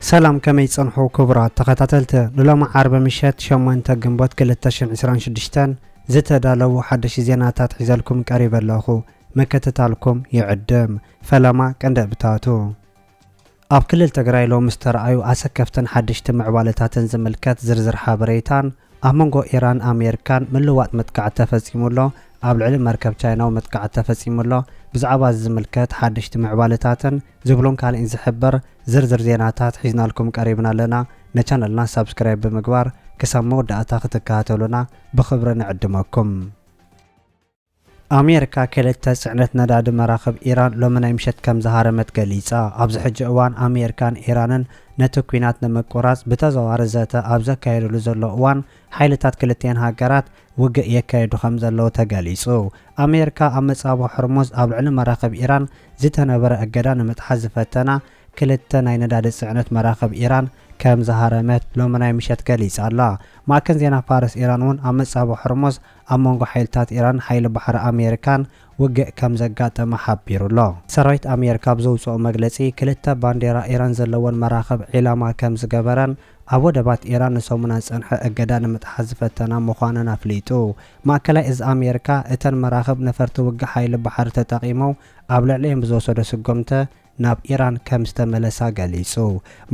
ሰላም ከመይ ጸንሑ ክቡራት ተኸታተልቲ ንሎሚ ዓርቢ ምሸት ሸሞንተ ግንቦት ክልተ ሽሕን ዕስራን ሽዱሽተን ዝተዳለዉ ሓደሽቲ ዜናታት ሒዘልኩም ቀሪበ ኣለኹ ምክትታልኩም ይዕድም ፈለማ ቀንዲ እብታቱ ኣብ ክልል ትግራይ ሎሚ ዝተርኣዩ ኣሰከፍትን ሓደሽቲ ምዕባለታትን ዝምልከት ዝርዝር ሓበሬታን ኣብ መንጎ ኢራን ኣሜሪካን ምልውዋጥ መጥቃዕቲ ተፈፂሙ ኣሎ፣ ኣብ ልዕሊ መርከብ ቻይናዊ መጥቃዕቲ ተፈፂሙ ኣሎ፣ ብዛዕባ እዚ ዝምልከት ሓደሽቲ ምዕባለታትን ዝብሉን ካሊእን ዝሕብር ዝርዝር ዜናታት ሒዝናልኩም ቀሪብና ኣለና። ንቻነልና ሳብስክራይብ ብምግባር ክሳብ መወዳእታ ክትከታተሉና ብኽብሪ ንዕድመኩም። ኣሜሪካ ክልተ ጽዕነት ነዳዲ መራኽብ ኢራን ሎሚ ናይ ምሸት ከም ዝሃረመት ገሊጻ። ኣብዚ ሕጂ እዋን ኣሜሪካን ኢራንን ነቲ ኲናት ንምቁራጽ ብተዘዋዋሪ ዘተ ኣብ ዘካየድሉ ዘሎ እዋን ሓይልታት ክልቲኤን ሃገራት ውግእ የካይዱ ከም ዘለዉ ተገሊጹ። ኣሜሪካ ኣብ መጻብቦ ሆርሙዝ ኣብ ልዕሊ መራኽብ ኢራን ዝተነበረ እገዳ ንምጥሓስ ዝፈተና ክልተ ናይ ነዳዲ ጽዕነት መራኽብ ኢራን ከም ዝሃረመት ሎሚ ናይ ምሸት ገሊጻ'ላ። ማእከን ዜና ፋርስ ኢራን'ውን ኣብ መጻብቦ ሆርሙዝ ኣብ መንጎ ሓይልታት ኢራን ሓይሊ ባሕሪ ኣሜሪካን ውግእ ከምዘጋጠመ ሓቢሩ'ሎ። ሰራዊት ኣሜሪካ ኣብ ዘውጽኦ መግለጺ፣ ክልተ ባንዴራ ኢራን ዘለወን መራኽብ ዒላማ ከምዝገበረን ኣብ ወደባት ኢራን ንሰሙናት ዝጸንሐ እገዳ ንምጥሓስ ዝፈተና ምዃነን ኣፍሊጡ። ማእከላይ እዝ ኣሜሪካ፣ እተን መራኽብ ነፈርቲ ውግእ ሓይሊ ባሕሪ ተጠቒሞም ኣብ ልዕሊኤን ብዝወሰዶ ስጉምተ፣ ናብ ኢራን ከም ዝተመለሳ ገሊጹ።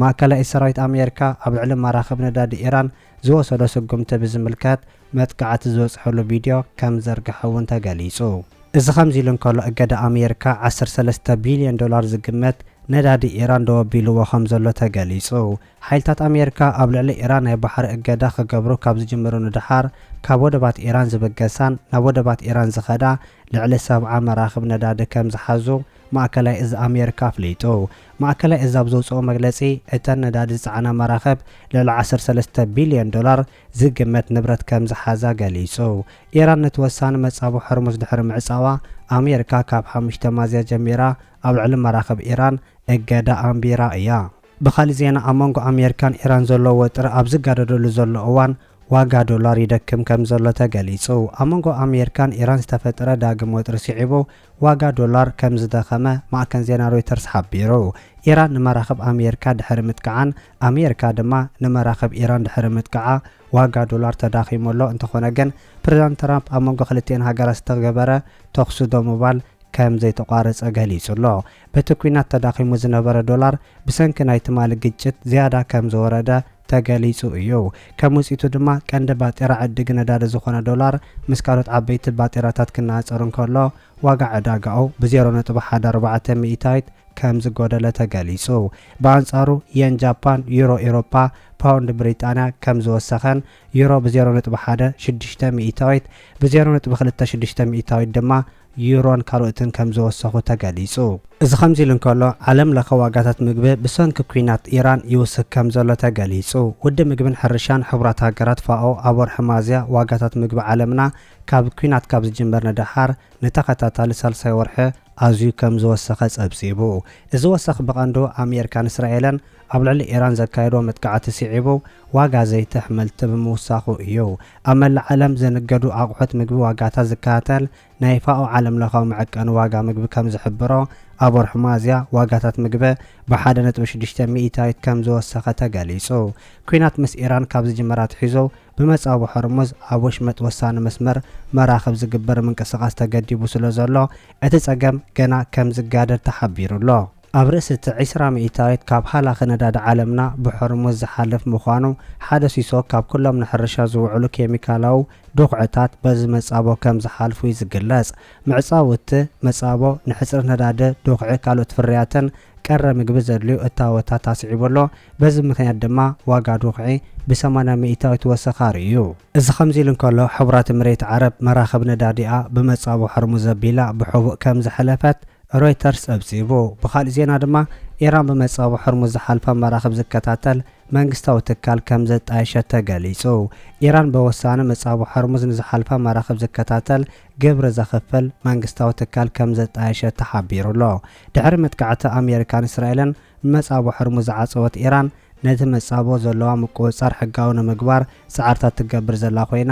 ማእከላይ ሰራዊት ኣሜሪካ ኣብ ልዕሊ መራኽብ ነዳዲ ኢራን ዝወሰዶ ስጉምቲ ብዝምልከት መጥቃዕቲ ዝበጽሐሉ ቪድዮ ከም ዝዘርግሐ እውን ተገሊጹ። እዚ ከምዚ ኢሉ እንከሎ እገዳ ኣሜሪካ ዓሰርተ ሰለስተ ቢልዮን ዶላር ዝግመት ነዳዲ ኢራን ደው ኣቢልዎ ከም ዘሎ ተገሊጹ። ሓይልታት ኣሜሪካ ኣብ ልዕሊ ኢራን ናይ ባሕሪ እገዳ ክገብሩ ካብ ዝጅምሩ ንደሓር ካብ ወደባት ኢራን ዝብገሳን ናብ ወደባት ኢራን ዝኸዳ ልዕሊ ሰብዓ መራኽብ ነዳዲ ከም ዝሓዙ ማእከላይ እዝ ኣሜርካ ኣፍሊጡ። ማእከላይ እዝ ኣብ ዘውጽኦ መግለጺ፣ እተን ነዳዲ ዝጸዓና መራኽብ ልዕሊ ዓሰርተ ሰለስተ ቢልዮን ዶላር ዝግመት ንብረት ከም ዝሓዛ ገሊጹ። ኢራን ነቲ ወሳኒ መጻብቦ ሆርሙዝ ድሕሪ ምዕጻዋ፣ ኣሜርካ ካብ ሓሙሽተ ማዝያ ጀሚራ ኣብ ልዕሊ መራኽብ ኢራን እገዳ ኣንቢራ እያ። ብኻልእ ዜና ኣብ መንጎ ኣሜርካን ኢራን ዘሎ ወጥሪ ኣብ ዝጋደደሉ ዘሎ እዋን፣ ዋጋ ዶላር ይደክም ከም ዘሎ ተገሊጹ። ኣብ መንጎ ኣሜርካን ኢራን ዝተፈጥረ ዳግም ወጥሪ ስዒቡ፣ ዋጋ ዶላር ከም ዝደኸመ ማዕከን ዜና ሮይተርስ ሓቢሩ። ኢራን ንመራኽብ ኣሜሪካ ድሕሪ ምጥቃዓን ኣሜሪካ ድማ ንመራኽብ ኢራን ድሕሪ ምጥቃዓ ዋጋ ዶላር ተዳኺሙ ኣሎ፣ እንተኾነ ግን ፕሬዝዳንት ትራምፕ ኣብ መንጎ ክልቲኤን ሃገራት ዝተገበረ ተኹሲ ደው ምባል ከም ዘይተቋረፀ ገሊፁ ኣሎ። በቲ ኲናት ተዳኺሙ ዝነበረ ዶላር ብሰንኪ ናይ ትማሊ ግጭት ዝያዳ ከም ዝወረደ ተገሊፁ እዩ። ከም ውፅኢቱ ድማ ቀንዲ ባጤራ ዕድጊ ነዳዲ ዝኾነ ዶላር ምስ ካልኦት ዓበይቲ ባጤራታት ክነፃፀር እንከሎ ዋጋ ዕዳጋኡ ብ ዜሮ ነጥቢ ሓደ ኣርባዕተ ሚኢታዊት ከም ዝጎደለ ተገሊፁ። ብኣንፃሩ የን ጃፓን፣ ዩሮ ኢሮፓ፣ ፓውንድ ብሪጣንያ ከም ዝወሰኸን ዩሮ ብ ዜሮ ነጥቢ ሓደ ሽዱሽተ ሚኢታዊት ብ ዜሮ ነጥቢ ክልተ ሽዱሽተ ሚኢታዊት ድማ ዩሮን ካልኦትን ከም ዝወሰኹ ተገሊጹ። እዚ ከምዚ ኢሉ እንከሎ፣ ዓለም ለኸ ዋጋታት ምግቢ ብሰንኪ ኲናት ኢራን ይውስኽ ከም ዘሎ ተገሊጹ። ውድብ ምግብን ሕርሻን ሕቡራት ሃገራት፣ ፋኦ፣ ኣብ ወርሒ ሚያዝያ ዋጋታት ምግቢ ዓለምና ካብ ኲናት ካብ ዝጅምር ንደሓር ንተኸታታሊ ሳልሳይ ወርሒ ኣዝዩ ከም ዝወሰኸ ጸብጺቡ። እዚ ወሰኽ ብቐንዱ ኣሜሪካን እስራኤልን ኣብ ልዕሊ ኢራን ዘካየድዎ መጥቃዕቲ ስዒቡ ዋጋ ዘይቲ ኣሕምልቲ ብምውሳኹ እዩ። ኣብ መላእ ዓለም ዘንገዱ ኣቑሑት ምግቢ ዋጋታት ዝከታተል ናይ ፋኦ ዓለምለኻዊ መዐቀኒ ዋጋ ምግቢ ከም ዝሕብሮ፣ ኣብ ወርሒ ሚያዝያ ዋጋታት ምግቢ ብሓደ ነጥቢ ሽዱሽተ ሚኢታዊት ከም ዝወሰኸ ተገሊጹ። ኲናት ምስ ኢራን ካብ ዝጅምር ኣትሒዙ ብመጻብቦ ሆርሙዝ ኣብ ወሽመጥ ወሳኒ መስመር መራኽብ ዝግበር ምንቅስቓስ ተገዲቡ ስለዘሎ እቲ ጸገም ገና ከም ዝጋደድ ተሓቢሩ'ሎ። ኣብ ርእሲ እቲ ዕስራ ሚእታዊት ካብ ሃላኺ ነዳዲ ዓለምና ብሖርሙዝ ዝሓልፍ ምዃኑ፣ ሓደ ሲሶ ካብ ኩሎም ንሕርሻ ዝውዕሉ ኬሚካላዊ ዱኽዕታት በዚ መጻቦ ከም ዝሓልፉ እዩ ዝግለጽ። ምዕጻው እቲ መጻቦ ንሕጽረት ነዳዲ፣ ዱኽዒ፣ ካልኦት ፍርያትን ቀረ ምግቢ ዘድልዩ እታወታት ኣስዒቡ ኣሎ። በዚ ምኽንያት ድማ ዋጋ ዱኽዒ ብሰማንያ ሚእታዊት ወሰኽ ኣርእዩ። እዚ ከምዚ ኢሉ እንከሎ፣ ሕቡራት እምሬት ዓረብ መራኽብ ነዳዲኣ ብመጻቦ ሖርሙዝ ኣቢላ ብሕቡእ ከም ዘሕለፈት ሮይተርስ ጸብጺቡ። ብኻልእ ዜና ድማ፣ ኢራን ብመጻብቦ ሆርሙዝ ዝሓልፋ መራኽብ ዝከታተል መንግስታዊ ትካል ከም ዘጣየሸት ተገሊጹ። ኢራን በወሳኒ መጻብቦ ሆርሙዝ ንዝሓልፋ መራኽብ ዝከታተል ግብሪ ዘኽፍል መንግስታዊ ትካል ከም ዘጣየሸት ተሓቢሩ'ሎ። ድሕሪ መጥቃዕቲ ኣሜሪካን እስራኤልን ንመጻብቦ ሆርሙዝ ዝዓጸወት ኢራን፣ ነቲ መጻብቦ ዘለዋ ምቁጽጻር ሕጋዊ ንምግባር ጻዕርታት ትገብር ዘላ ኮይና፣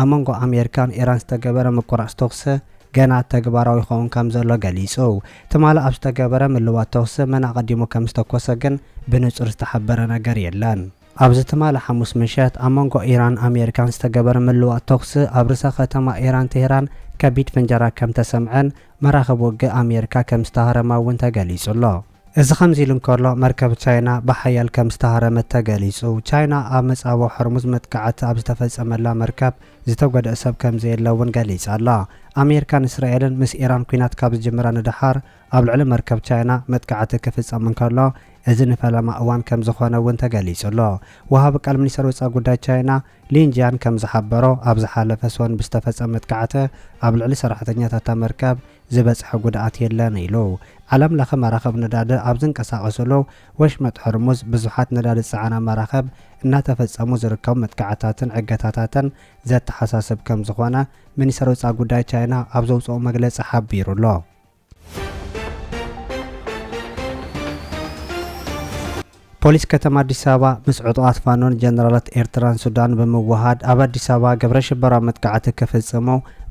ኣብ መንጎ ኣሜሪካን ኢራን ዝተገበረ ምቁራፅ ተኹሲ ገና ተግባራዊ ይኸውን ከምዘሎ ገሊፁ። ትማሊ ኣብ ዝተገበረ ምልዋጥ ተኹሲ መን ኣቐዲሙ ከምዝተኮሰ ግን ብንፁር ዝተሓበረ ነገር የለን። ኣብዚ ትማሊ ሓሙስ ምሸት ኣብ መንጎ ኢራንን ኣሜሪካን ዝተገበረ ምልዋጥ ተኹሲ ኣብ ርእሰ ከተማ ኢራን ቴህራን ከቢድ ፍንጀራ ከምተሰምዐን መራኽብ ውግእ ኣሜሪካ ከምዝተሃረማ እውን ተገሊፁ ኣሎ። እዚ ከምዚ ኢሉ እንከሎ፣ መርከብ ቻይና ብሓያል ከም ዝተሃረመት ተገሊጹ። ቻይና ኣብ መጻብቦ ሆርሙዝ መጥቃዕቲ ኣብ ዝተፈጸመላ መርከብ ዝተጎድኣ ሰብ ከም ዘየለ'ውን ገሊጻ ኣላ። ኣሜሪካን እስራኤልን ምስ ኢራን ኲናት ካብ ዝጅምራ ንደሓር ኣብ ልዕሊ መርከብ ቻይና መጥቃዕቲ ክፍጸም እንከሎ እዚ ንፈለማ እዋን ከም ዝኾነ'ውን ተገሊጹ ኣሎ። ወሃቢ ቃል ሚኒስተር ወጻኢ ጉዳይ ቻይና ሊን ጂያን ከም ዝሓበሮ ኣብ ዝሓለፈ ሰኑን ብዝተፈጸመ መጥቃዕቲ ኣብ ልዕሊ ሰራሕተኛታት'ታ መርከብ ዝበጽሐ ጉድኣት የለን ኢሉ። ዓለምለኸ መራኽብ ነዳዲ ኣብ ዝንቀሳቐሱሉ ወሽመጥ ሆርሙዝ ብዙሓት ነዳዲ ዝጸዓና መራኽብ እናተፈጸሙ ዝርከቡ መጥቃዕትታትን ዕገታታትን ዘተሓሳስብ ከም ዝኾነ ሚኒስተር ወጻኢ ጉዳይ ቻይና ኣብ ዘውጽኦ መግለጺ ሓቢሩ ኣሎ። ፖሊስ ከተማ ኣዲስ ኣበባ ምስ ዕጡቓት ፋኖን ጀነራላት ኤርትራን ሱዳንን ብምውህሃድ ኣብ ኣዲስ ኣበባ ግብረ ሽበራዊ መጥቃዕቲ ክፍጽሙ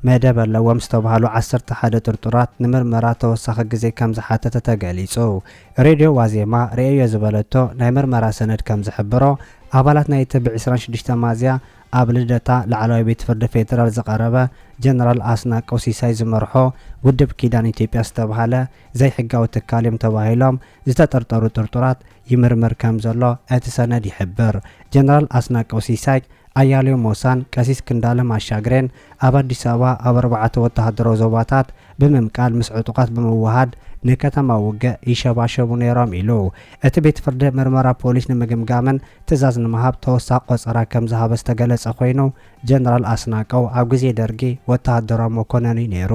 መደብ ኣለዎም ዝተብሃሉ ዓሰርተ ሓደ ጥርጡራት ንምርመራ ተወሳኺ ግዜ ከም ዝሓተተ ተገሊጹ። ሬድዮ ዋዜማ ርእየዮ ዝበለቶ ናይ ምርመራ ሰነድ ከም ዝሕብሮ፣ ኣባላት ናይቲ ብ ዕስራን ሽዱሽተን ሚያዝያ ኣብ ልደታ ላዕለዋይ ቤት ፍርዲ ፌደራል ዝቐረበ ጀነራል ኣስናቀው ሲሳይ ዝመርሖ ውድብ ኪዳን ኢትዮጵያ ዝተብሃለ ዘይሕጋዊ ትካል እዮም ተባሂሎም ዝተጠርጠሩ ጥርጡራት ይምርምር ከም ዘሎ እቲ ሰነድ ይሕብር። ጀነራል ኣስናቀው ሲሳይ፣ ኣያሌው ሞሳን ቀሲስ ክንዳለም ኣሻግሬን ኣብ ኣዲስ ኣበባ ኣብ ኣርባዕተ ወተሃደራዊ ዞባታት ብምምቃል ምስ ዕጡቓት ብምውሃድ ንከተማ ውግእ ይሸባሸቡ ነይሮም ኢሉ። እቲ ቤት ፍርዲ ምርመራ ፖሊስ ንምግምጋምን ትእዛዝ ንምሃብ ተወሳኺ ቆጸራ ከም ዝሃበ ዝተገለጸ ኮይኑ፣ ጀነራል ኣስናቀው ኣብ ግዜ ደርጊ ወተሃደራዊ መኮነን እዩ ነይሩ።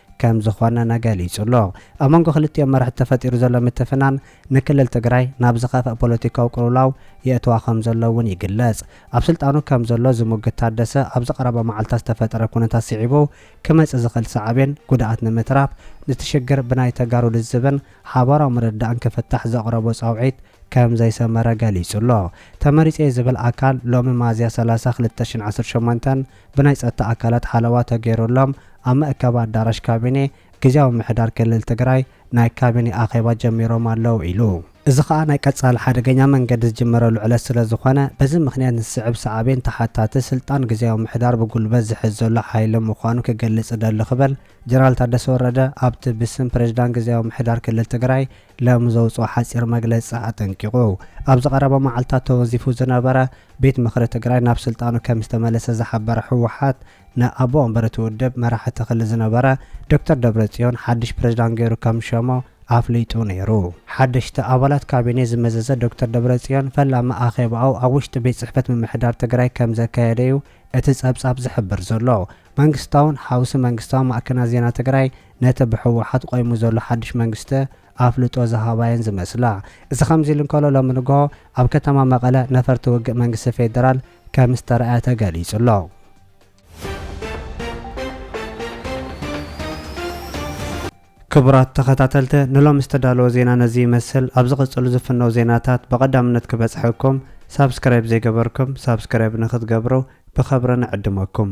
ከም ዝኾነነ ገሊጹ'ሎ። ኣብ መንጎ ክልቲኦም መራሕቲ ተፈጢሩ ዘሎ ምትፍናን ንክልል ትግራይ ናብ ዝኸፍኣ ፖለቲካዊ ቅልውላው የእትዋ ከም ዘሎ እውን ይግለጽ። ኣብ ስልጣኑ ከም ዘሎ ዝሙግት ታደሰ ኣብዚ ቀረባ መዓልታት ዝተፈጠረ ኩነታት ስዒቡ ክመጽእ ዝኽእል ሳዕቤን ጉድኣት ንምትራፍ እቲ ሽግር ብናይ ተጋሩ ልዝብን ሓባራዊ ምርድዳእን ክፍታሕ ዘቕረቦ ጻውዒት ከም ዘይሰመረ ገሊጹ'ሎ። ተመሪጸ'የ ዝብል ኣካል ሎሚ መኣዝያ ሰላሳ ክልተ ሽሕን ዓሰርተ ሸሞንተን ብናይ ፀጥታ ኣካላት ሓለዋ ተገይሩሎም ኣብ መእከቢ ኣዳራሽ ካቢኔ ግዝያዊ ምምሕዳር ክልል ትግራይ ናይ ካቢኔ ኣኼባ ጀሚሮም ኣለው ኢሉ። እዚ ኸኣ ናይ ቀፃሊ ሓደገኛ መንገዲ ዝጅመረሉ ዕለት ስለዝኾነ በዚ ምኽንያት ንዝስዕብ ሳዕቤን ተሓታቲ ስልጣን ግዝያዊ ምምሕዳር ብጉልበት ዝሕዝ ዘሎ ሓይሊ ምዃኑ ክገልፅ እደሊ ክብል ጀነራል ታደሰ ወረደ ኣብቲ ብስም ፕሬዝዳንት ግዝያዊ ምምሕዳር ክልል ትግራይ ሎሚ ዘውፅኦ ሓፂር መግለፂ ኣጠንቂቑ። ኣብ ዝቐረባ መዓልትታት ተወንዚፉ ዝነበረ ቤት ምኽሪ ትግራይ ናብ ስልጣኑ ከም ዝተመለሰ ዝሓበረ ህወሓት ንኣቦ ወንበር እቲ ውድብ መራሕቲ ክልል ዝነበረ ዶክተር ደብረፅዮን ሓድሽ ፕሬዝዳንት ገይሩ ከም ዝሸሞ ኣፍሊጡ ነይሩ። ሓደሽቲ ኣባላት ካቢኔ ዝመዘዘ ዶክተር ደብረፅዮን ፈላሚ ኣኼባኡ ኣብ ውሽጢ ቤት ፅሕፈት ምምሕዳር ትግራይ ከም ዘካየደ እዩ እቲ ፀብፃብ ዝሕብር ዘሎ። መንግስታውን ሓውሲ መንግስታውን ማዕከናት ዜና ትግራይ ነቲ ብህወሓት ቆይሙ ዘሎ ሓድሽ መንግስቲ ኣፍልጦ ዝሃባ'የን ዝመስላ። እዚ ከምዚ'ሉ እንከሎ ሎሚ ንግሆ ኣብ ከተማ መቐለ ነፈርቲ ውግእ መንግስቲ ፌደራል ከምዝተራእያ ተገሊጹ'ሎ። ክቡራት ተኸታተልቲ ንሎሚ ዝተዳለወ ዜና ነዚ ይመስል። ኣብ ዝቕጽሉ ዝፍነው ዜናታት ብቐዳምነት ክበጽሐኩም ሳብስክራይብ ዘይገበርኩም ሳብስክራይብ ንክትገብሩ ብኸብሪ ንዕድመኩም።